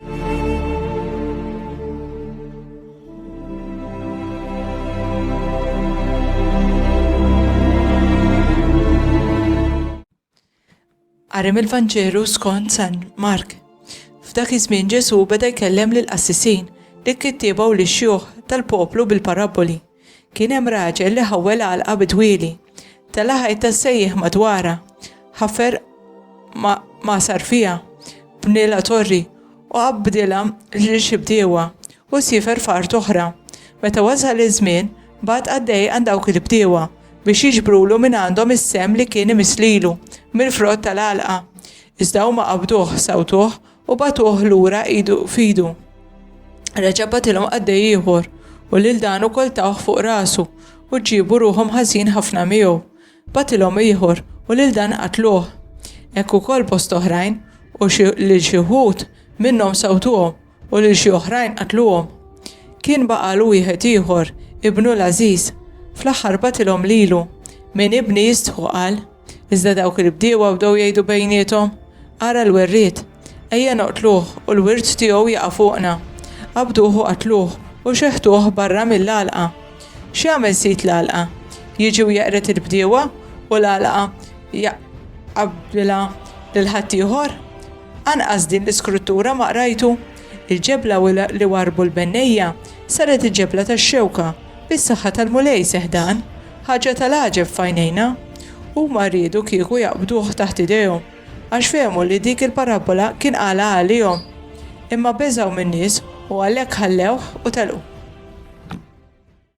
Għarem il-Vanġelu skont San Mark. F'dak iż-żmien Ġesu beda jkellem lil qassisin li kittieba u lix xjuħ tal-poplu bil-parabboli. Kien hemm raġel li ħawwel għalqa bi dwieli. Tela' ħajta sejjieħ madwarha. Ħafer magħsar fiha, bnielha torri u qabbdilha lil xi bdiewa u siefer f'art oħra. Meta wasal iż-żmien, bagħat qaddej għand dawk il-bdiewa biex jiġbrulu minn għandhom is-sehem li kien imiss lilu mill-frott tal-għalqa. Iżda huma qabduh, sawtuh u bagħtuh lura idu f'idu. Reġa' bagħtilhom qaddej ieħor u lil dan ukoll tawh fuq rasu u ġiebu ruħhom ħażin ħafna miegħu. Bagħtilhom ieħor u lil dan qatluh. Hekk ukoll bosta oħrajn u lil xi wħud minnhom sawtuhom u lil xi oħrajn qatluhom. Kien baqgħalu wieħed ieħor, ibnu l-għażiż. Fl-aħħar bagħtilhom lilu. Min ibni jistħu qal. Iżda dawk il-bdiewa bdew jgħidu bejniethom, Ara l-werriet! Ejja noqtluh u l-wirt tiegħu jaqa' fuqna. Qabduh u qatluh u xeħtuh barra mill-għalqa. X'jagħmel sid l-għalqa? Jiġi u jeqred il-bdiewa u l-għalqa jaqabbilha lil ħaddieħor? Anqas din l-iskruttura ma qrajtu? Il-ġebla li warbu l-bennejja saret il-ġebla tax-xewka, bis-saħħa tal-Mulej seħħ dan. Ħaġa tal-għaġeb f'għajnejna, huma riedu kieku jaqbduh taħt idejhom, għax fehmu li dik il-parabbola kien qalha għalihom. Imma beżgħu min-nies u għalhekk ħallewh u telqu.